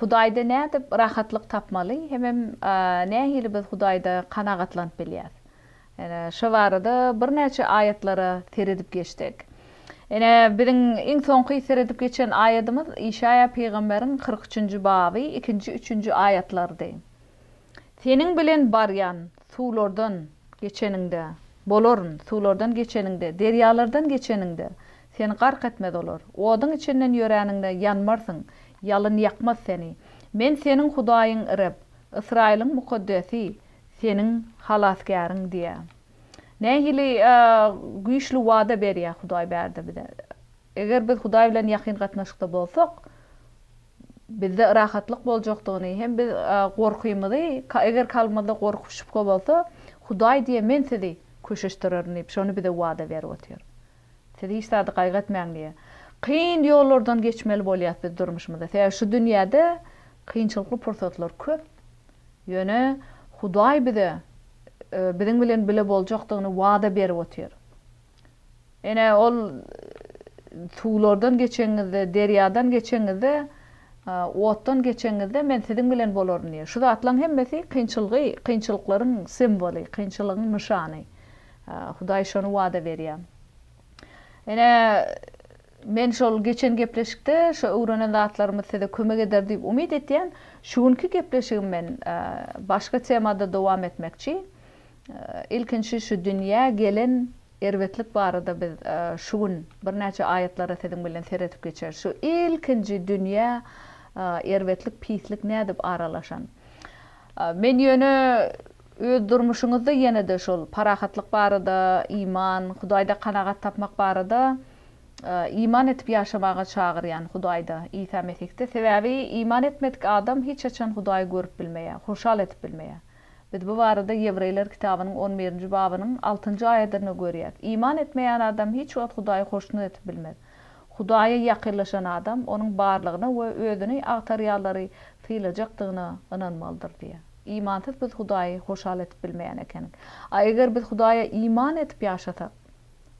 Hudaýda nädip rahatlyk tapmaly hemem nähili biz Hudaýda kanagatlanyp bilýäs? Ine, şo barada birnäçe aýatlara seredip geçsek. Ine, biziň iň soňky seredip geçen aýadymyz Işaýa pygamberiň kyrk üçünji baby ikinji, üçünji aýatlarydy. Seniň bilen barýan, suwlardan geçeniňde, bolaryn, suwlardan geçeniňde, derýalardan geçeniňde, Seni gark etmez olar. Oduň içinden ýöräniňde ýanmarsyň, ýalyn ýakmaz seni. Men seniň Hudaýyň Reb, Ysraýylyň Mukaddesi, seniň Halasgäriň diýýär. Nähili güýçli wada berýär Hudaý bärde bize! Eger biz Hudaý bilen ýakyn gatnaşykda bolsak, bizde rahatlyk boljakdygyny hem biz gorkymyzy, eger kalbymyzda gorky-şübhe bolsa, Hudaý diýýär, Men sizi köşeşdirerin diýip, şony bize wada berip otyr. Siz hiç zady gaýgy etmäň diýýär. Kyn ýollardan geçmeli bolýas biz durmuşymyzda. Sebäbi şu dünýäde kynçylykly pursatlar köp. Ýöne Hudaý bize biziň bilen bile boljakdygyny wada berip otyr. Ene ol suwlardan geçeňizde, derýadan geçeňizde, otdan geçeňizde men siziň bilen bolaryn diýýär. Şu zatlaryň hemmesi kynçylgy, kynçylyklaryň simwoly, kynçylygyň nyşany. Hudaý şony wada berýär. Ine, men şol geçen gepleşikde şu öwrenen zatlarymyz size kömek eder diýip umyt etýän. Şu günki gepleşigim men başga temada dowam etmekçi. Ilkinji şu dünýä gelen erbetlik barada biz şu gün birnäçe aýatlara siziň bilen seredip geçeris. Şu ilkinji dünýä erbetlik, pislik nädip aralaşan? Men ýöne. Öz durmuşyňyzda ýene-de şol parahatlyk barada, iman, Hudaýda kanagat tapmak barada iman edip ýaşamaga çagyrýan, Hudaýda, Isa Mesihde. Sebäbi iman etmedik adam hiç haçan Hudaýy görüp bilmeýär, hoşal edip bilmeýär. Biz bu barada Ýewreýler kitabynyň on birinji babynyň altynjy aýadynda görýäs. Iman etmeýän adam hiç wagt Hudaýy hoşnut edip bilmez. Hudaýa ýakynlaşan adam Onuň barlygyna we özüni agtarýanlary sylajakdygyna ynanmalydyr diýýär. Imansyz biz Hudaýy hoşal edip bilmeýän ekenik. A eger biz Hudaýa iman edip ýaşasak?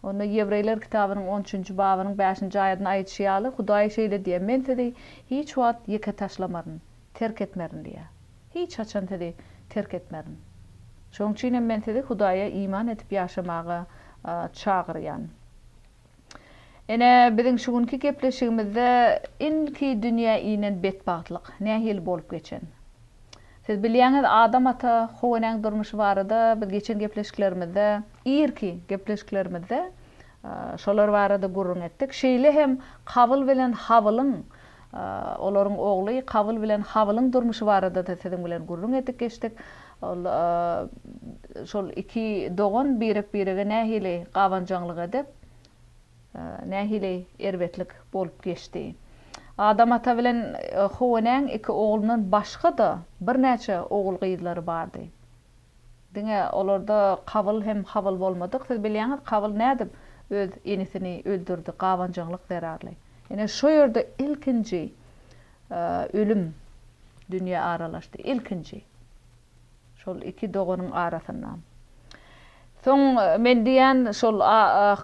Onda Ýewreýler kitabynyň on üçünji babynyň bäşinji aýadynda aýdyşy ýaly, Hudaý şeýle diýýär, Men sizi hiç wagt ýeke taşlamaryn, terk etmerin diýýär. Hiç haçan sizi terk etmerin. Şonuň üçin hem men sizi Hudaýa iman edip ýaşamaga çagyrýan. Ine, biziň şu günki gepleşigimizde ilki dünýä inen betbagtlyk nähili bolup geçen? Siz bilýäňiz, Adam ata Howenäň durmuşy barada biz geçen gepleşiklerimizde, irki gepleşiklerimizde şolar barada gürrüň etdik. Şeýle hem Kabyl bilen Habylyň Olaryň ogly Kabyl bilen Habylyň durmuşy barada-da siziň bilen gürrüň edip geçdik. Ol şol iki dogan birek-birege nähili gabanjaňlyk edip, nähili erbetlik bolup geçdi. Adam ata bilen Howenäň iki oglundan başga-da birnäçe ogul-gyzlary bardy. Diňe olarda Kabyl hem Habyl bolmadyk. Siz bilýäňiz, Kabyl nädip öz inisini öldürdi, gabanjaňlyk zerarly. Ine, şo ýerde ilkinji ölüm dünýä aralaşdy. Ilkinji. Şol iki doganyň arasynda. Soň men diýýän, şol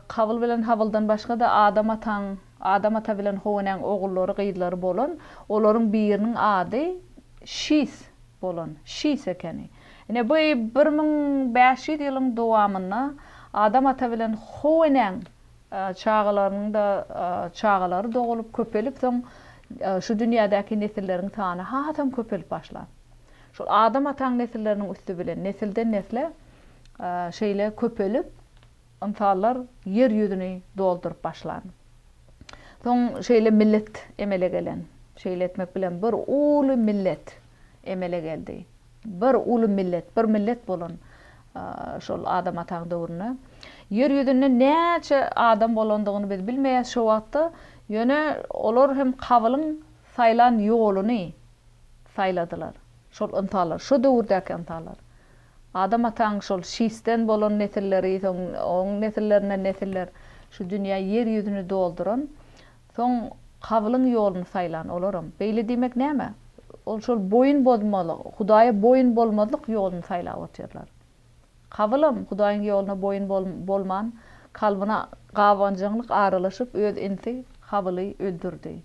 Kabyl bilen Habyldan başga-da Adam ataň, Adam ata bilen Howenäň ogullary, gyzlary bolan, olaryň biriniň ady Şis bolan şiş ekeni. Ine, bu bir müň bäş ýüz ýylyň dowamynda Adam ata bilen How enäň çagalarynyň-da çagalary dogulyp, köpelip, soň şu dünýädäki nesilleriň sany hasam köpelip başlan. Şol Adam ataň nesilleriniň üsti bilen nesilden-nesle şeýle köpelip, Ynsanlar ýer ýüzüni dolduryp başlan. Soň şeýle millet emele gelen. Şeýle etmek bilen bir uly millet emele geldi. Bir uly millet, bir millet bolan şol Adam ataň döwründe. Ýer ýüzünde näçe adam bolandygyny biz bilmeýäs şo wagtda, ýöne olar hem Kabylyň saýlan ýoluny saýladylar. Şol ynsanlar, şo döwürdäki ynsanlar. Adam ataň şol Şisden bolan nesilleri, soň oň nesillerinden nesiller şu dünýä, ýer ýüzüni dolduran, soň Kabylyň ýoluny saýlan olaram. Beýle diýmek näme? Ol şol boýun bozmalyk, Hudaýa boýun bolmazlyk ýoluny saýlap otyrlar. Kabylam Hudaýyň ýoluna boýun bolman, kalbyna gabanjaňlyk aralaşyp, öz inisi Habyly öldürdi.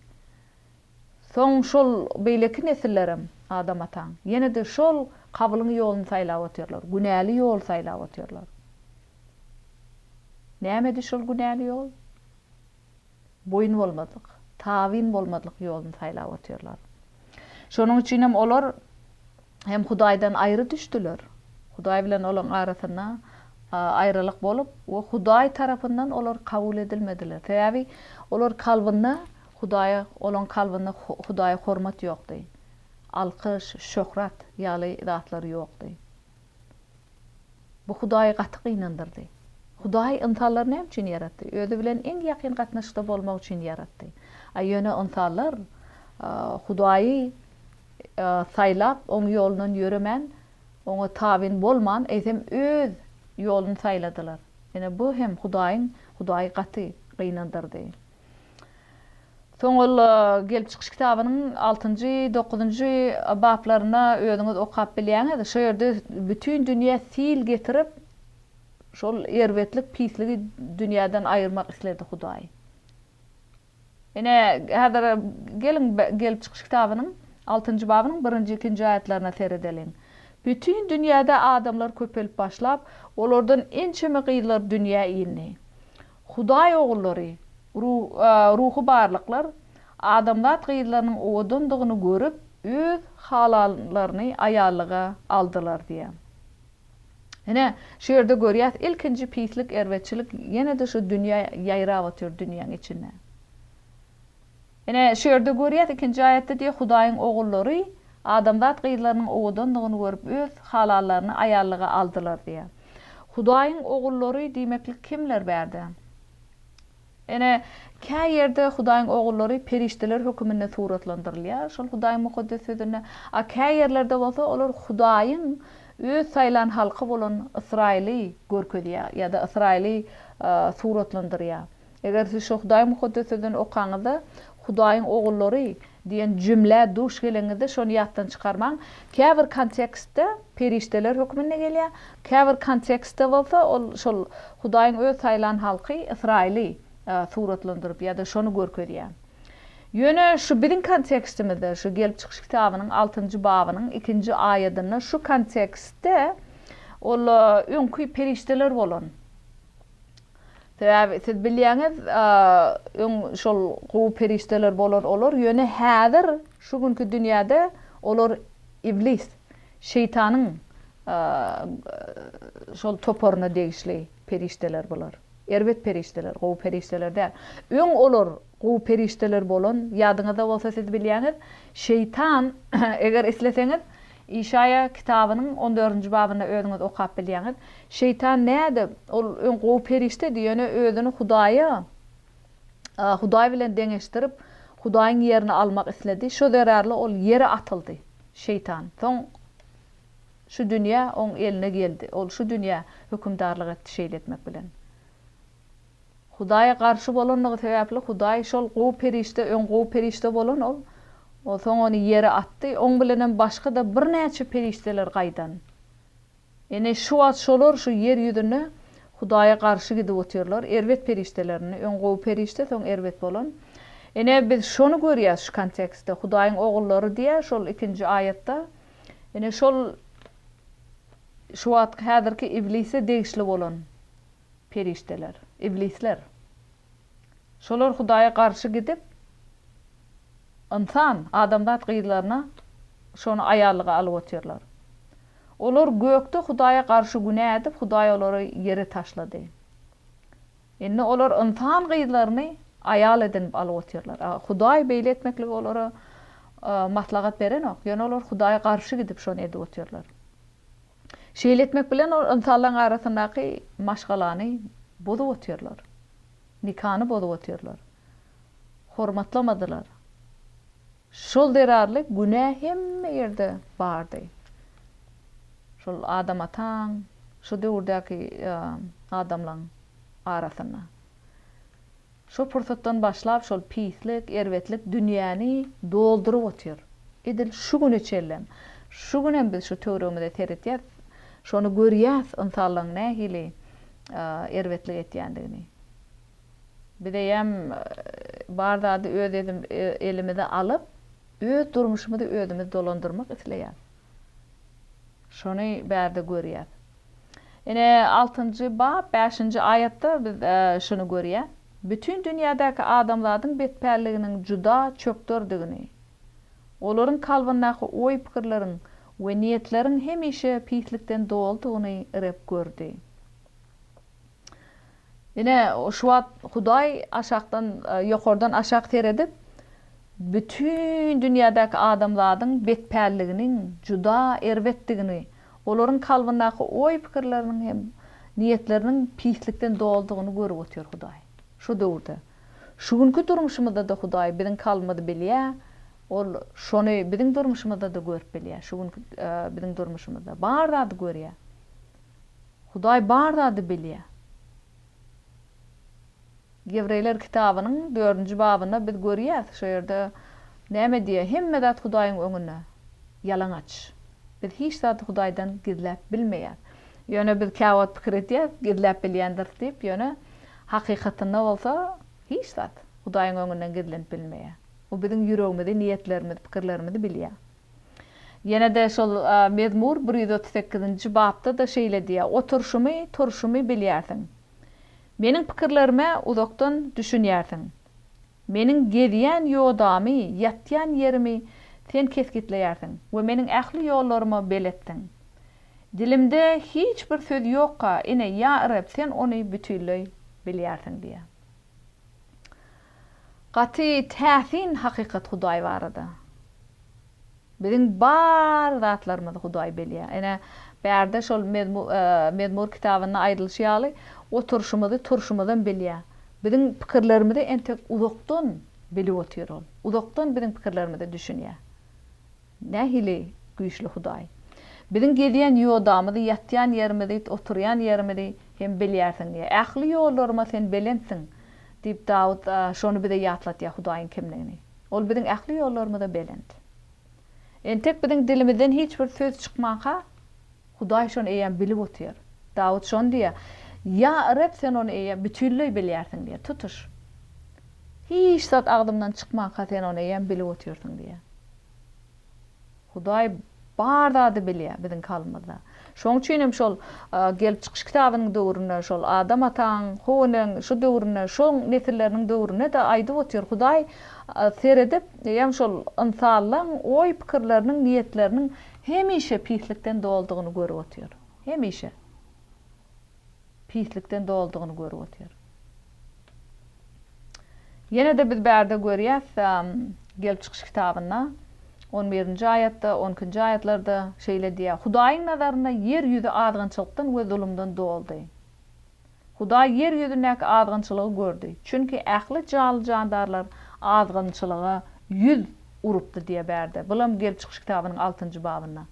Soň şol beýleki nesillerem Adam ataň, ýene-de şol Kabylyň ýoluny saýlap otyrlar, günäli ýol saýlap otyrlar. Nämedi şol günäli ýol? Boýun bolmazlyk, tabyn bolmazlyk ýoluny saýlap otyrlar. Şonuň üçinem olar hem Hudaýdan aýry düşdüler. Hudaý bilen olaryň arasynda aýralyk bolup we Hudaý tarapyndan olar kabul edilmediler. Sebäbi olar kalbynda Hudaýa, olaň kalbynda Hudaýa hormat ýokdy. Alkyş, şöhrat ýaly zatlar ýokdy. Bu Hudaýy gaty gynandyrdy. Hudaý ynsanlary näme üçin ýaratdy? Özi bilen iň ýakyn gatnaşykda bolmak üçin ýaratdy. A ýöne ynsanlar Hudaýy saýlap, Oň ýolundan ýöremän, Oňa tabyn bolman, eýsem öz ýoluny saýladylar. Ine, bu hem Hudaýyň Hudaýy gaty gynandyrdy. Soňulla gelip çykyş kitabynyň altynjy, dokuzynjy baplaryna özüňiz okap bilýäňiz. Şo ýerde bütin dünýä sil getirip, şol erbetlik, pisligi dünýäden aýyrmak isledi Hudaý. Ine, häzir geliň gelip çykyş kitabynyň altynjy babynyň birinji, ikinji aýatlaryna seredeliň. Bütin dünýäde adamlar köpelip başlap, olardan ençeme gyzlar dünýä indi. Hudaý ogullary, ruhy barlyklar, adamzat gyzlarynyň owadandygyny görüp, öz halanlaryny aýallyga aldylar diýýär. Ine, şu ýerde görýäs, ilkinji pislik, erbetçilik ýene-de şu dünýä ýaýrap otyr, dünýäň içinde. Ine, şu ýerde görýäs, ikinji aýatda diýýär, Hudaýyň ogullary adamzat gyzlarynyň owadandygyny görüp, öz halallaryny aýallyga aldylar diýýär. Hudaýyň ogullary diýmeklik kimler bärde? Ine, kä ýerde Hudaýyň ogullary perişdeler höküminde suratlandyrylýar, şol Hudaýyň Mukaddes Sözünde, a kä ýerlerde bolsa olar Hudaýyň Öz saýlan halky bolan Ysraýyly görkezýär ýa-da Ysraýyly suratlandyrýar. Eger siz şu Hudaý Mukaddes Sözünden okaňyzda, Hudaýyň ogullary diýen jümlä duş geleňizde şony ýatdan çykarmaň. Käbir kontekstde perişdeler hökmünde gelýär, käbir kontekstde bolsa ol şol Hudaýyň öz saýlan halky, Ysraýyly suratlandyryp ýa-da şony görkezýär. Ýöne şu biziň kontekstimizde, şu Gelip çykyş kitabynyň altynjy babynyň ikinji aýadynda şu kontekstde ol öňki perişdeler bolan Sebäbi siz bilýäňiz, öň şol gowy perişdeler bolar olar, ýöne häzir şu günki dünýäde olar Iblis, Şeýtanyň şol toparyna degişli perişdeler bular. Erbet perişdeler, gowy perişdeler däl. Öň olar gowy perişdeler bolan, ýadyňyzda bolsa siz bilýäňiz, Şeýtan eger isleseňiz, Işaýa kitabynyň on dördünji babynda özüňiz okap bilýäňiz. Şeýtan nädip? Ol öň gowy perişdedi, ýöne özüni Hudaýa, Hudaý bilen deňeşdirip, Hudaýyň ýerini almak isledi. Şo zerarly ol ýere atyldy, Şeýtan. Soň şu dünýä oň eline geldi. Ol şu dünýä hökümdarlyk etdi şeýle etmek bilen. Hudaýa garşy bolandygy sebäpli Hudaý şol gowy perişde öň gowy perişde bolan ol soň ony ýere atdy, oň bilenem başga-da birnäçe perişdeler gaýdan. Ine şu wagt şolar şu ýer ýüzünde Hudaýa garşy gidip otyrlar, erbet perişdelerini öň gowy perişde soň erbet bolan. Ine biz şony görýäs şu kontekstde Hudaýyň ogullary diýýär şol ikinji aýatda ine şol şu wagtky häzirki iblise degişli bolan. Perişdeler, iblisler. Şolar Hudaýa garşy gidip, ynsan, adamzat gyzlaryna şony aýallyga alyp otyrlar. Olar gökde Hudaýa garşy günä edip, Hudaý olary ýere taşlady. Indi olar ynsan gyzlaryny aýal edinip alyp otyrlar. Hudaý beýle etmekligi olara maslahat berenok, ýöne olar Hudaýa garşy gidip şony edip otyrlar. Şeýle etmek bilen ol ynsanlaryň arasyndaky maşgalany bozup otyrlar. Nikany bozup otyrlar. Hormatlamadylar. Şol zerarly günä hemme ýerde bardy. Şol Adam ataň, şu döwürdäki adamlaň arasynda. Şo pursatdan başlap şol pislik, erbetlik dünýäni dolduryp otyr. Edil şu güne çenlem. Şu günem biz şu töweregimize seretýäs, şony görýäs ynsanlaryň nähili erbetlik etýändigini. Bizeýem bar zady öz elimize alyp, öz durmuşymyzy özümiz dolandyrmak isleýäs. Şony bärde görýäs. Ine, altynjy bap, bäşinji aýatda biz şuny görýäs. Bütin dünýädäki adamzadyň betpälliginiň juda çökderdigini, olaryň kalbyndaky oý-pikirleriň we niýetleriň hemişe pislikden doludygyny Reb gördi. Ine, şu wagt Hudaý aşakdan, ýokardan aşak seredip, bütin dünýädäki adamzadyň betpälliginiň juda erbetdigini, olaryň kalbyndaky oý-pikirleriniň hem niýetleriniň pislikden doludygyny görüp otyr Hudaý. Şu döwürde, şu günki durmuşymyzda-da Hudaý biziň kalbymyzy bilýär, Ol şony biziň durmuşymyzda-da görüp bilýär, şu günki biziň durmuşymyzda bar zady görýär. Hudaý bar zady bilýär. Ýewreýler kitabynyň dördünji babynda biz görýäs, şo ýerde näme diýýär, Hemme zat Hudaýyň öňünde ýalaňaç. Biz hiç zady Hudaýdan gizläp bilmeýäs. Ýöne biz käwagt pikir edýäris, gizläp bilýändiris diýip, ýöne hakykatynda bolsa hiç zat Hudaýyň öňünden gizlenip bilmeýär. O biziň ýüregimizi, niýetlerimizi, pikirlerimizi bilýär. Ýene-de şol Mezmur bir ýüz otuz sekizinji bapda-da şeýle diýýär, Oturyşymy, turşumy bilýärsiň. Meniň pikirlerime uzakdan düşünýärsiň. Meniň gezýän ýodamy, ýatýan ýerimi Sen kesgitleýärsiň we meniň ähli ýollaryma beletdiň. Dilimde hiç bir söz ýokka, ine, ýa Reb, Sen ony bütinleý bilýärsiň diýýär. Gaty täsin hakykat Hudaý barada. Biziň bar zatlarymyzy Hudaý bilýär. Ene, bärde şol Mezmur kitabynda aýdylyşy ýaly, oturyşymyzy, turşumyzam bilýär. Biziň pikirlerimizi entek uzakdan bilip otyr ol. Uzakdan biziň pikirlerimize düşünýär. Nähili güýçli Hudaý! Biziň gezýän ýodamyzy, ýatýan ýerimizi, oturýan ýerimizi Sen bilýärsiň. Ähli ýollaryma Sen belentsiň! diýip, Dawut şony bize ýatlatýar Hudaýyň kimdigini. Ol biziň ähli ýollarymyza belent. Entek biziň dilimizden hiç bir söz çykmanka, Hudaý şony eýýäm bilip otyr. Dawut şony diýýär, Ýa Reb, Sen ony eýýäm bütinleý bilýärsiň diýýär, tutuş. Hiç zat agzymdan çykmanka Sen ony eýýäm bilip otyrsyň diýýär. Hudaý bar zady bilýär biziň kalbymyzda. Şonuň üçin hem şol Gelip çykyş kitabynyň döwründe şol Adam ataň, How eneň şu döwründe, şoň nesilleriniň döwründe-de aýdyp otyr, Hudaý seredip eýýäm şol ynsanlaň oý-pikirleriniň, niýetleriniň Hemişe pislikden doldugyny görüp otyr. Hemişe. Pislikden doldugyny görüp otyr. Ýene-de biz bärde görýäs, Gelip çykyş kitabynda on birinji aýatda, on ikinji aýatlarda şeýle diýýär, Hudaýyň nazarynda ýer ýüzi azgynçylykdan we zulumdan doldy. Hudaý ýer ýüzündäki azgynçylygy gördi, çünki ähli jaly-jandarlar azgynçylyga ýüz urupdy diýýär Bärde. Bulam Gelip çykyş kitabynyň altynjy babynda.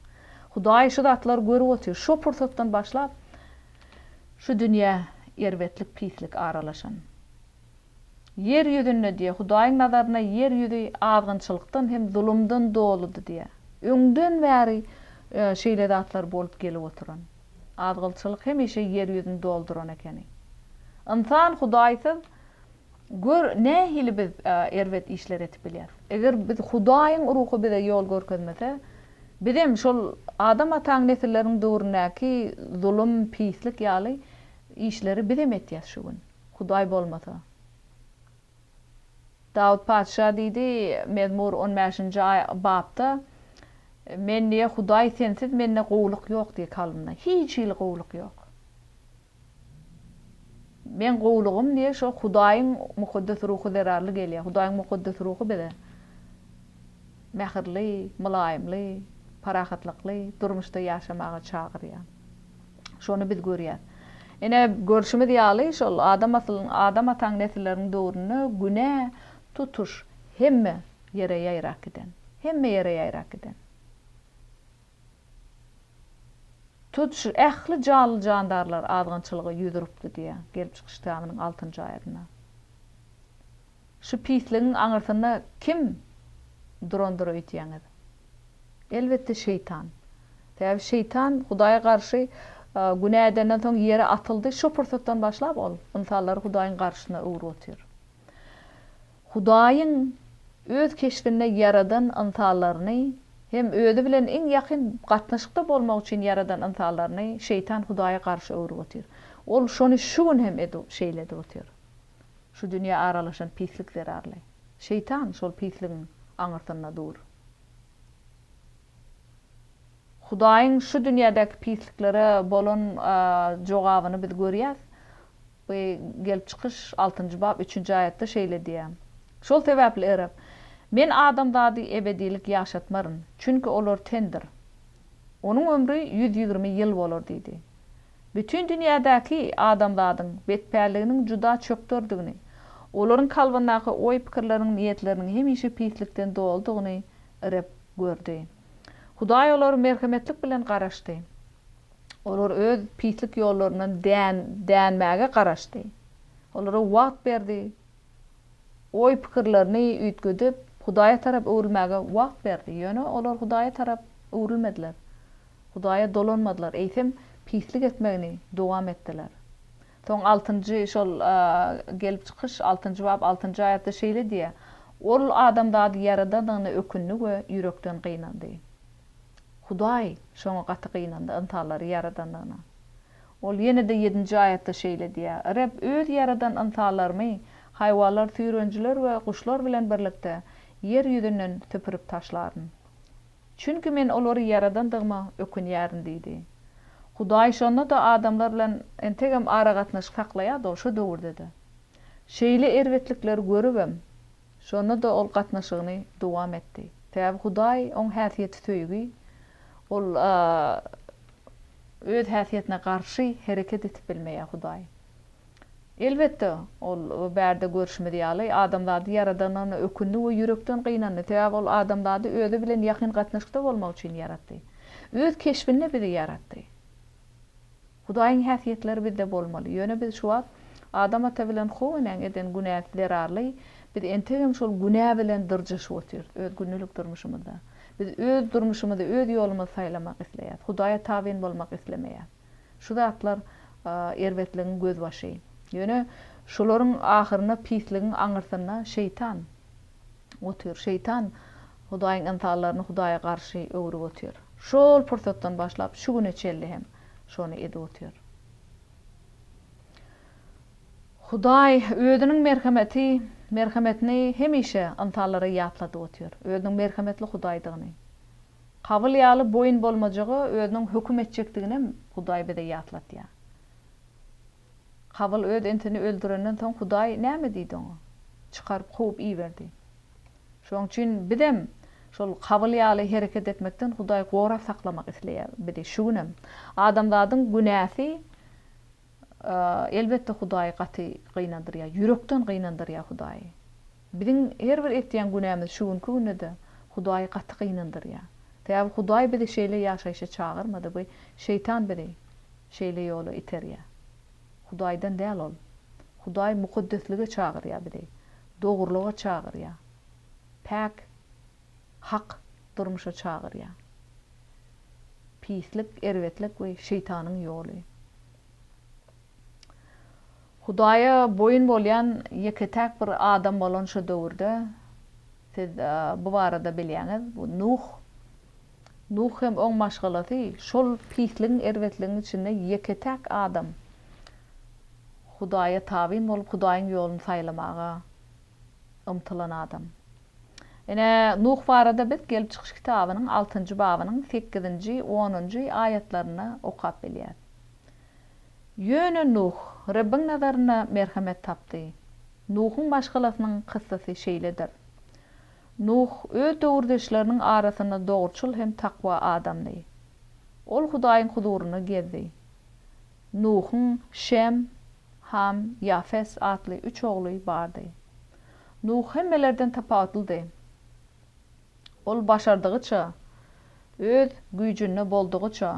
Hudaý şu zatlary görüp otyr. Şo pursatdan başlap, şu dünýä erbetlik, pislik aralaşan. Ýer ýüzünde diýýär, Hudaýyň nazarynda ýer ýüzi azgynçylykdan hem zulumdan doludy diýýär. Öňden bäri şeýle zatlar bolup gelip oturan. Azgylçylyk hemişe ýer ýüzüni dolduran ekeni. Ynsan Hudaýsyz gör nähili biz erbet işler edip bilýäs. Eger biz Hudaýyň Ruhy bize ýol görkezmese, bizem şol Adam ataň nesilleriniň döwründäki zulum, pislik ýaly işleri bizem etýäs şu gün, Hudaý bolmasa. Dawut patyşa diýdi, Mezmur on bäşinji bapda, Men diýe, Hudaý sensiz mende gowulyk ýok diýe kalbymda, hiç hili gowulyk ýok. Meň gowulygym diýe şo Hudaýyň Mukaddes Ruhy zerarly gelýär. Hudaýyň Mukaddes Ruhy bize mähirli, mylaýymly, parahatlykly durmuşda ýaşamaga çagyrýar. Şony biz görýäs. Ine, görşümiz ýaly, şol Adam asylyň, Adam ataň nesilleriniň döwründe günä tutuş hemme ýere ýaýrap giden. Hemme ýere ýaýrap giden. Tutuş ähli janly-jandarlar azgynçylyga ýüz urupdy diýýär, Gelip çykyş kitabynyn altynjy aýadynda. Şu pisligiň aňyrsynda kim durandyr öýdýäňiz? Elbetde şeýtan. Sebäbi şeýtan Hudaýa garşy günä edenden soň ýere atyldy, şo pursatdan başlap ol ynsanlary Hudaýyň garşysyna öwrüp otyr. Hudaýyň öz keşbinde ýaradan ynsanlaryny hem özi bilen iň ýakyn gatnaşykda bolmak üçin ýaradan ynsanlaryny şeýtan Hudaýa garşy öwrüp otyr. Ol şony şu gün hem edip şeýle edip otyr. Şu dünýä aralaşan pislik zerarly. Şeýtan şol pisligiň aňyrsynda dur. Hudaýyň şu dünýädäki pisliklere bolan jogabyny biz görýäs. Bu Gelip çykyş altynjy bap üçünji aýatda şeýle diýýär. Şol sebäpli Reb, Men adamzady ebedilik ýaşatmaryn, çünki olar tendir. Onuň ömri ýüz ýigrimi ýyl bolar diýdi. Bütin dünýädäki adamzadyň betpälliginiň juda çökderdigini, olaryň kalbyndaky oý-pikirleriniň, niýetleriniň hemişe pislikden doludygyny Reb gördi. Hudaý olara merhemetlik bilen garaşdy. Olar öz pislik ýollaryndan dänmäge garaşdy. Olara wagt berdi oý-pikirlerini üýtgedip, Hudaýa tarap öwrülmäge wagt berdi. Ýöne olar Hudaýa tarap öwrülmediler. Hudaýa dolanmadylar, eýsem, pislik etmegini dowam etdiler. Soň altynjy şol Gelip çykyş altynjy bap altynjy aýatda şeýle diýýär, Ol adamzady Ýaradanyna ökündi we ýürekden gynandy. Hudaý şoňa gaty gynandy, ynsanlary ýaradanyna. Ol ýene-de ýedinji aýatda şeýle diýýär, Reb Öz ýaradan ynsanlarymy haýwanlar, süýrenijiler we guşlar bilen birlikde ýer ýüzünden süpürip taşlaryn. Çünki men olary ýaradandygyma ökünýärin diýdi. Hudaý şonda-da adamlar bilen entegem aragatnaşyk saklaýardy, ol şu döwürde-de. Şeýle erbetlikleri görübem, Şonda-da ol gatnaşygyny dowam etdi. Sebäbi Hudaý oň häsiýeti söýgi, ol öz häsiýetine garşy hereket etip bilmeýär Hudaý. Elbetde, ol bärde görşümiz ýaly, adamzady ýaradanyna ökündi we ýürekden gynandy, sebäbi ol adamzady özi bilen ýakyn gatnaşykda bolmak üçin ýaratdy. Öz keşbinde bizi ýaratdy. Hudaýyň häsiýetleri bizde bolmaly. Ýöne biz şu wagt Adam ata bilen How enäň eden günäsi zerarly biz entegem şol günä bilen dyrjaşyp otyrys öz gündelik durmuşymyzda. Biz öz durmuşymyzy, öz ýolumyzy saýlamak isleýäs. Hudaýa tabyn bolmak islemeýäs. Şu zatlar erbetligiň gözbaşy. Ýöne şularyň ahyrynda pisligiň aňyrsynda Şeýtan otyr. Şeýtan Hudaýyň ynsanlaryny Hudaýa garşy öwrüp otyr. Şol pursatdan başlap şu güne çenli hem şony edip otyr. Hudaý Özüniň merhemeti, merhemetini hemişe ynsanlara ýatladyp otyr, Özüniň merhemetli Hudaýdygyny. Kabyl ýaly boýun bolmajyga Özüniň höküm etjekdiginem Hudaý bize ýatlatýar. Kabyl öz intini öldürenden soň Hudaý näme diýdi oňa? Çykaryp kowup iberdi. Şoň üçin bizem şol Habyl ýaly hereket etmekden Hudaý gorap saklamak isleýär bizi şu günem. Adamzadyň günäsi elbetde Hudaýy gaty gynandyrýar, ýürekden gynandyrýar Hudaýy. Biziň her bir etýän günämiz şu günki günde-de Hudaýy gaty gynandyrýar. Sebäbi Hudaý bizi şeýle ýaşaýşa çagyrmady, bu şeýtan bizi şeýle ýola iterýär. Hudaýdan däl ol. Hudaý mukaddeslige çagyrýar bizi. Dogrulyga çagyrýar. Päk, hak durmuşa çagyrýar. Pislik, erbetlik we şeýtanyň ýoly. Hudaýa boýun bolýan ýeke-täk bir adam bolan şu döwürde, siz bu barada bilýäňiz, bu Nuh. Nuh hem oň maşgalasy şol pisligiň, erbetligiň içinde ýeke-täk adam Hudaýa tabyn bolup, Hudaýyň ýoluny saýlamaga ymtylan adam. Ine, Nuh barada biz Gelip çykyş kitabynyň altynjy babynyň sekizinji, onunjy aýatlarynda okap bilýäris. Ýöne Nuh Rebbiň nazarynda merhemet tapdy. Nuhuň maşgalasynyň kyssasy şeýledir. Nuh öz döwürdeşleriniň arasynda dogruçyl hem takwa adamdy. Ol Hudaýyň huzurynda gezdi. Nuhuň Şem, Ham, Ýafes atly üç ogly bardy. Nuh hemmelerden tapawutlydy. Ol başardygyça, öz güýjünde boldugyça,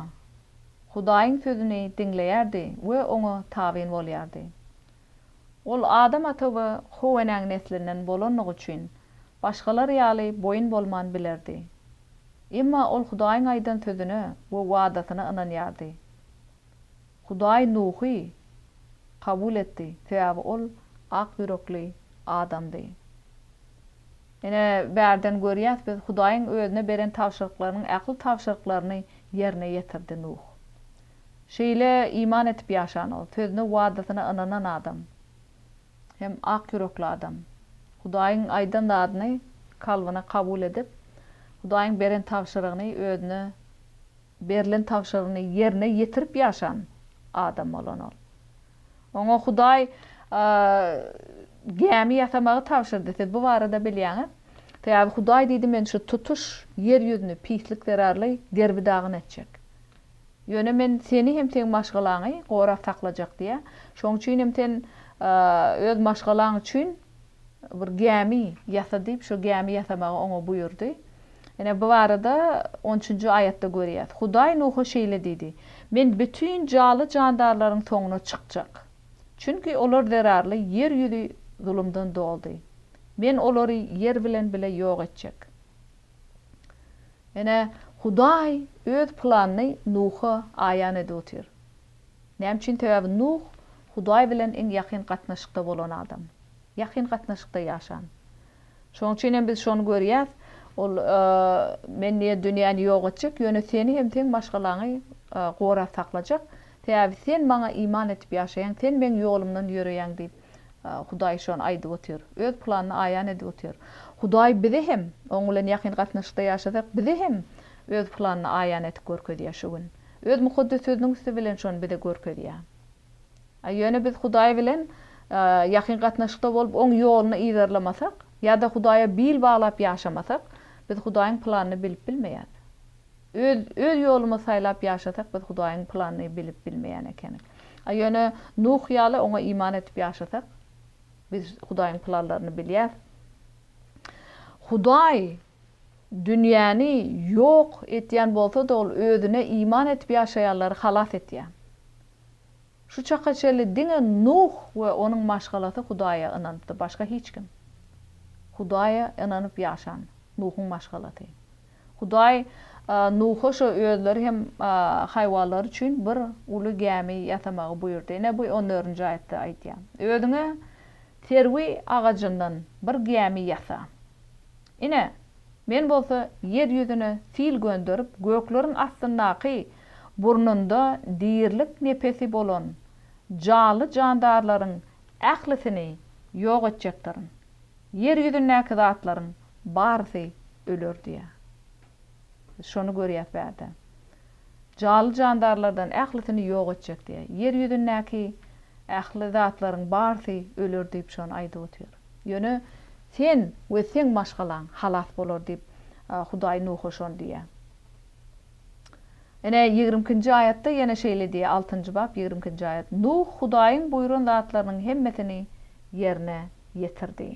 Hudaýyň sözüni diňleýärdi we Oňa tabyn bolýardy. Ol Adam ata we How-enäň neslinden bolandygy üçin, başgalar ýaly boýun bolman bilerdi. Emma ol Hudaýyň aýdan sözüne we wadasyna ynanýardy. Hudaý Nuhy kabul etdi, sebäbi ol ak ýürekli adamdy. Ine, bärden görýäs, biz Hudaýyň özüne beren tabşyryklarynyň ähli tabşyryklaryny ýerine ýetirdi Nuh. Şeýle iman edip ýaşan ol, sözüne, wadasyna ynanan adam hem ak ýürekli adam. Hudaýyň aýdan zadyny kalbyna kabul edip, Hudaýyň beren tabşyrygyny, özüne berlen tabşyrygyny ýerine ýetirip ýaşan adam bolan ol. Oňa Hudaý gämi ýasamagy tabşyrdy. Siz bu barada bilýäňiz. Sebäbi Hudaý diýdi, Men şu tutuş ýer ýüzüni pislik zerarly derbi-dagyn etjek. Ýöne men seni hem seň maşgalaňy gorap saklajak diýýä. Şoň üçin hem sen öz maşgalaň üçin bir gämi ýasa diýip, şo gämi ýasamagy oňa buýurdy. Ine, bu barada on üçünji aýatda görýäs. Hudaý Nuha şeýle diýdi, Men bütin jaly-jandarlaryň soňuna çykjak. Çünki olar zerarly ýer ýüzi zulumdan doldy. Men olary ýer bilen bile ýok etjek. Ine, Hudaý Öz planyny Nuha aýan edip otyr. Näme üçin? Sebäbi Nuh Hudaý bilen iň ýakyn gatnaşykda bolan adam. Ýakyn gatnaşykda ýaşan. Şonuň üçin hem biz şony görýäs, ol, Men diýýär, dünýäni ýok etjek, ýöne seni hem seň maşgalaňy gorap saklajak. Sebäbi sen Maňa iman edip ýaşaýaň, sen Meň ýolumdan ýöreýäň diýip, Hudaý şony aýdyp otyr. Öz planyny aýan edip otyr. Hudaý bize hem, Oň bilen ýakyn gatnaşykda ýaşasak, bize hem Öz planyny aýan edip görkezýär şu gün. Öz Mukaddes Sözüniň üsti bilen şony bize görkezýär. Ýöne biz Hudaý bilen ýakyn gatnaşykda bolup, Oň ýoluny yzarlamasak, ýa-da Hudaýa bil baglap ýaşamasak, biz Hudaýyň planyny bilip bilmeýäris. Öz öz ýolumy saýlap ýaşasak biz Hudaýyň planyny bilip bilmeýän ekenik. A ýöne Nuh ýaly oňa iman edip ýaşasak biz Hudaýyň planlaryny bilýäs. Hudaý dünýäni ýok etýän bolsada ol özüne iman edip ýaşaýanlary halas etýä. Şu çaka çenli diňe Nuh we onuň maşgalasy Hudaýa ynanypdy başga hiç kim. Hudaýa ynanyp ýaşan Nuhuň maşgalasy. Hudaý Nuha şo özleri hem haýwanlary üçin bir uly gämi ýasamagy buýurdy. Ine bu on dördünji aýatda aýdýar. Özüňe serwi agajyndan bir gämi ýasa. Ine, Men bolsa ýer ýüzüne sil gönderip, gökleriň astyndaky burnunda dirilik nepesi bolan janly-jandarlaryň Ählisini ýok etjekdirin. Ýer ýüzündäki zatlaryň barysy öler diýýär. Biz şony görýäs bärde. Jaly jandarlardan ählisini ýok etjek diýýär. Ýer ýüzündäki ähli zatlaryň barysy öler diýip şony aýdyp otyr. Ýöne sen we seň maşgalaň halas bolar diýip Hudaý Nuha şony diýýär. Ine, ýigrimi ikinji aýatda ýene şeýle diýýär, altynjy bap, ýigrimi ikinji aýat, Nuh Hudaýyň buýran zatlarynyň hemmesini ýerine ýetirdi.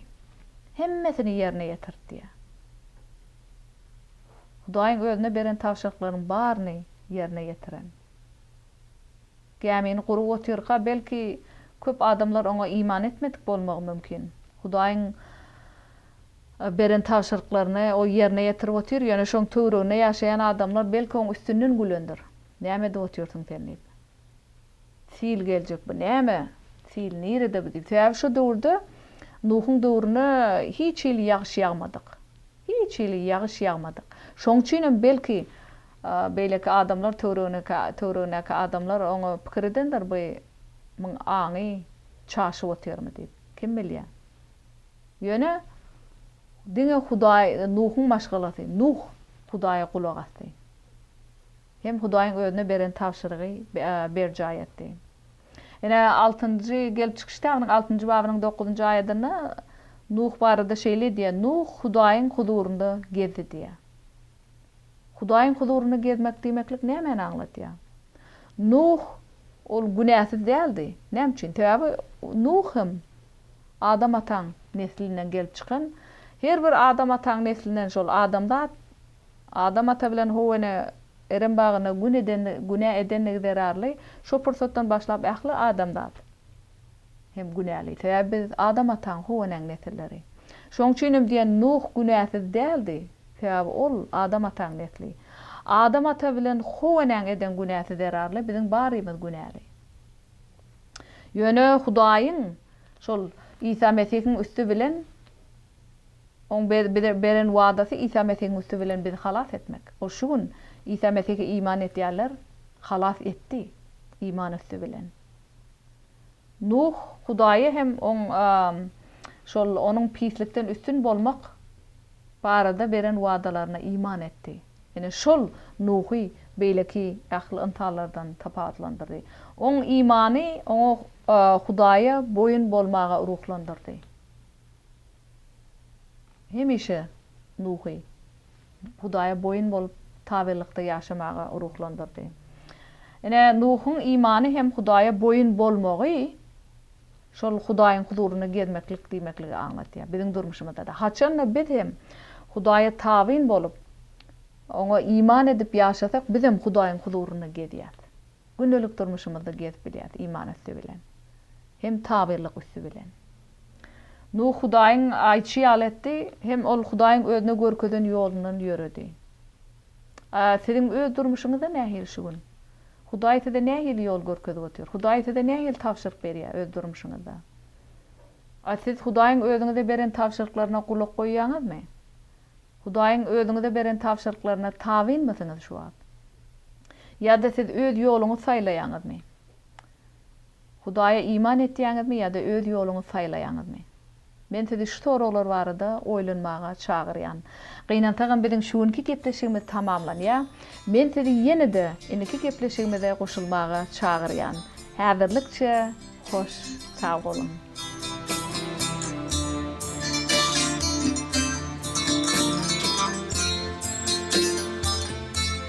Hemmesini ýerine ýetirdi diýýär. Hudaýyň özüne beren tabşyryklarynyň baryny ýerine ýetiren. Gämini gurup otyrka, belki, köp adamlar oňa iman etmedik bolmagy mümkin. Hudaýyň beren tabşyryklaryny o ýerine ýetirip otyr, ýöne şoň töwreginde ýaşaýan adamlar belki oň üstünden gülendir, näme edip otyrsyň sen diýip. Sil geljek bu näme, sil nirede bu diýip. Sebäbi şo döwürde Nuhuň döwrüne hiç hili ýagyş ýagmadyk. Hiç hili ýagyş ýagmadyk. Şoň üçinem belki beýleki adamlar töwregindeki töwregindäki adamlar oňa pikir edendir, bu myň aňy çaşyp otyrmy diýip. Kim bilýä. Ýöne diňe Hudaý Nuhuň maşgalasy, Nuh Hudaýa gulak asdy. Hem Hudaýyň özüne beren tabşyrygy berjaý etdi. Ine, altynjy Gelip çykyş kitabynyň altynjy babynyň dokuzynjy aýadynda Nuh barada şeýle diýýär, Nuh Hudaýyň huzurynda gezdi diýýär. Hudaýyň huzurynda gezmek diýmeklik nämäni aňladýar? Nuh ol günäsiz däldi. Näme üçin? Sebäbi Nuh hem Adam ataň neslinden gelip çykan. Her bir Adam ataň neslinden şol adamzat Adam ata bilen Howene Erem bagynda gün eden günä edendigi zerarly şo pursatdan başlap ähli adamzat hem günäli. Sebäbi biz Adam ataň Howenäň nesilleri. Şoň üçin hem diýen Nuh günäsiz däldi. Sebäbi ol Adam ataň nesli. Adam ata bilen Howenäň eden günäsi zerarly biziň barymyz günäli. Ýöne Hudaýyň şol Isa Mesihiň üsti bilen Oň bize beren wadasy Isa Mesihiň üsti bilen bizi halas etmek. Ol şu gün Isa Mesihe iman edýänler halas etdi iman üsti bilen. Nuh Hudaýa hem oň şol onuň pislikden üstün bolmak barada beren wadalaryna iman etdi. Ine, şol Nuhy beýleki ähli ynsanlardan tapawutlandyrdy. Oň imany oňa Hudaýa boýun bolmaga ruhlandyrdy. Hemişe Nuhy Hudaýa boýun bolup, tabelykda ýaşamaga ruhlandyrdy. Ine, Nuhyň imany hem Hudaýa boýun bolmagy, Şol Hudaýyň huzurynda gezmeklik diýmekligi aňladýar. Biziň durmuşymyzda-da, haçan-da biz hem Hudaýa tabyn bolup, Oňa iman edip ýaşasak, biz hem Hudaýyň huzurynda gezýäs. Gündelik durmuşymyzda gezip bilýäs, iman üsti bilen hem tabynlyk üsti bilen. Nuh Hudaýyň aýtşy ýaly etdi, hem ol Hudaýyň özüne görkezen ýolundan ýöredi. A siziň öz durmuşyňyzda nähili şu gün? Hudaý size nähili ýol görkezip otyr? Hudaý size nähili tabşyryk berýär öz durmuşyňyzda? A siz Hudaýyň özüňize beren tabşyryklaryna gulak goýýaňyzmy? Hudaýyň özüňize beren tabşyryklaryna tabynmysyňyz şu wagt? Ýa-da siz öz ýoluňyzy saýlaýaňyzmy? Hudaýa iman etýäňizmi ýa-da öz ýoluňyzy saýlaýaňyzmy? Men sizi şu soraglar barada oýlanmaga çagyrýan. Gynansagam biziň şu günki gepleşigimiz tamamlanýar. Men sizi ýene-de indiki gepleşigimize goşulmaga çagyrýan. Häzirlikçe hoş sag boluň.